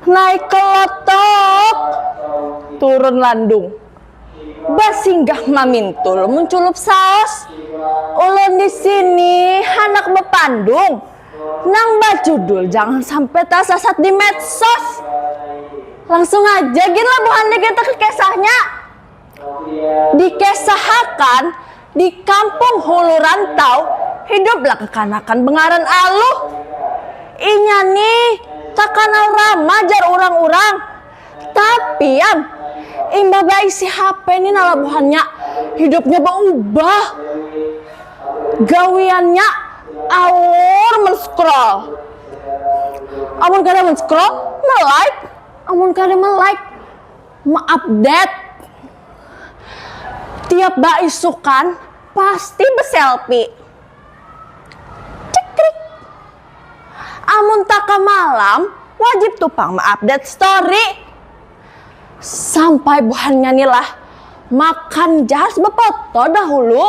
Naik kelotok, turun landung. Basinggah mamintul munculup saos. Ulun di sini handak bepandung nang bajudul jangan sampai tasasat di medsos. Langsung aja gin lah buhannya kita ke kisahnya. Dikesahakan, di kampung hulu rantau hiduplah kakanakan bengaran Aluh. Inya ni takanal ramah jar urang-urang. Tapi am, imbah baisi hape ni nala buhannya hidupnya baubah. Gawiannya alur men-scroll. Amun kada men-scroll, me-like. Amun kada me-like. me-update tiap baisukan pasti beselfie. Cekrik. Amun taka malam, wajib tu pang me-update story. Sampai buhannya ni lah, makan jar befoto dahulu.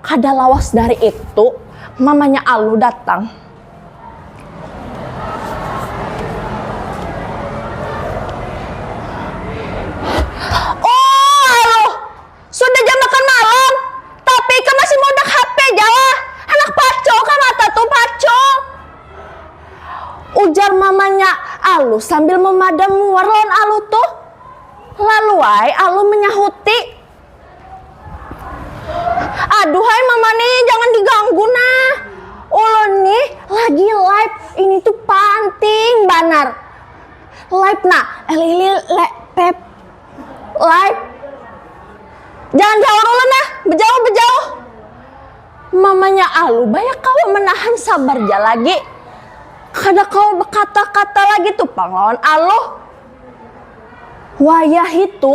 Kada lawas dari itu, mamanya Alu datang. Oh, Alu! Sudah jam makan malam, tapi ikam masih maudak HP ja lah! Handak pacul kah mata tu, pacul! Ujar mamanya Alu sambil memadam muar lawan Alu tuh. Lalu ai Alu menyahuti. Aduhai mamane jangan diganggu nah. Ulun nih lagi live ini tuh panting banar. Live nah, lili le, pep live. Jangan jawar ulun nah, bejauh bejauh. Mamanya Alu banyak kawa menahan sabar ja lagi. Kada kawa bekata-kata lagi tuh pang lawan Alu. Wayah itu,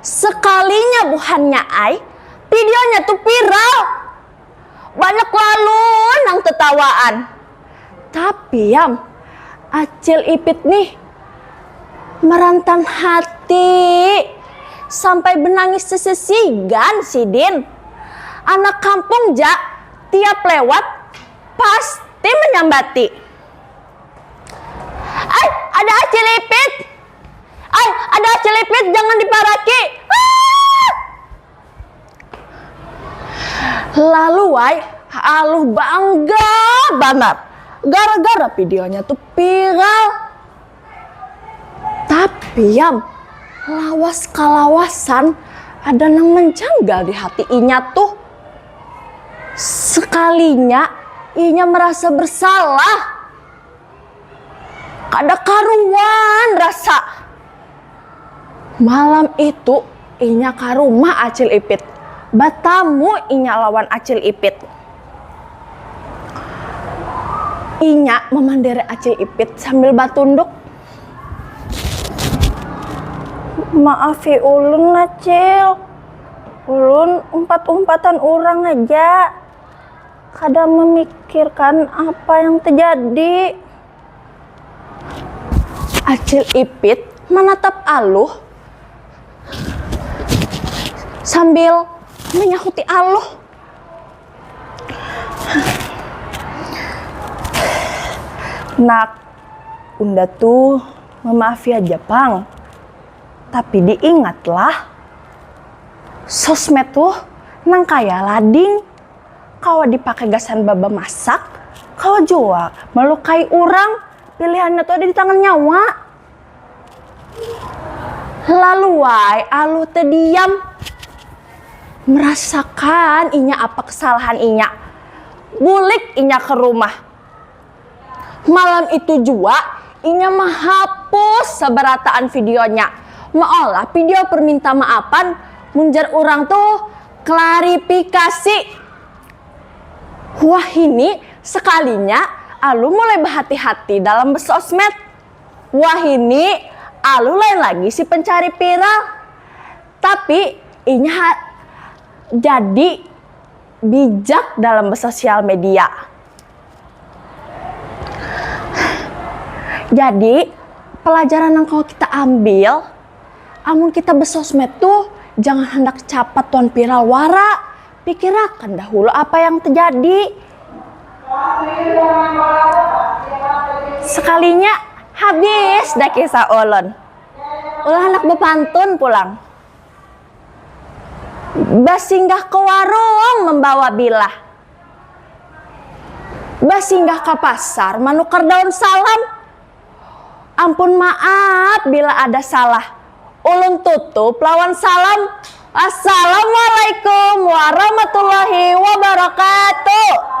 Sekalinya buhannya ai videonya tu viral. Banyak lalu nang tetawaan. Tapi yam, Acil Ipit nih merantan hati sampai benangis sesesigan sidin. Anak kampung ja tiap lewat pasti menyambati. Ay, ada Acil Ipit. Ay, ada cilipit jangan diparaki. Ah! Lalu ay, aluh bangga banar. Gara-gara videonya tuh viral. Tapi yam, lawas kalawasan ada nang menjanggal di hati inya tuh. Sekalinya inya merasa bersalah. Kada karuan rasa. Malam itu inya ka rumah Acil Ipit. Batamu inya lawan Acil Ipit. Inya mamandiri Acil Ipit sambil batunduk. Maafi ulun Acil, ulun umpat-umpatan urang haja. Kada memikirkan apa yang terjadi. Acil Ipit menatap Aluh sambil menyahuti Aluh. Nak, unda tu memaafi haja pang. Tapi diingatlah, sosmed tu nang kaya lading. kawa dipakai gasan baba masak kawa jua melukai urang pilihannya tuh ada di tangan nyawa laluai alu tediam merasakan inya apa kesalahan inya bulik inya ke rumah. Malam itu jua, inya mahapus sabarataan videonya, maolah video perminta maafan mun jar urang tu klarifikasi. Wahini sakalinya Alu mulai bahati-hati dalam bersosmed. Wahini Alu lain lagi si pencari viral. Tapi inya ha jadi. bijak dalam bersosial media. Jadi, pelajaran yang kalau kita ambil, amun kita bersosmed tuh jangan hendak capat wan viral wara. Pikirakan dahulu apa yang terjadi. Sekalinya habis dah kisah ulun. Ulah handak bepantun pulang. Basinggah ke warung membawa bilah. Basinggah ka pasar manukar daun salam. Ampun maaf bila ada salah. Ulun tutup lawan salam. Assalamualaikum warahmatullahi wabarakatuh.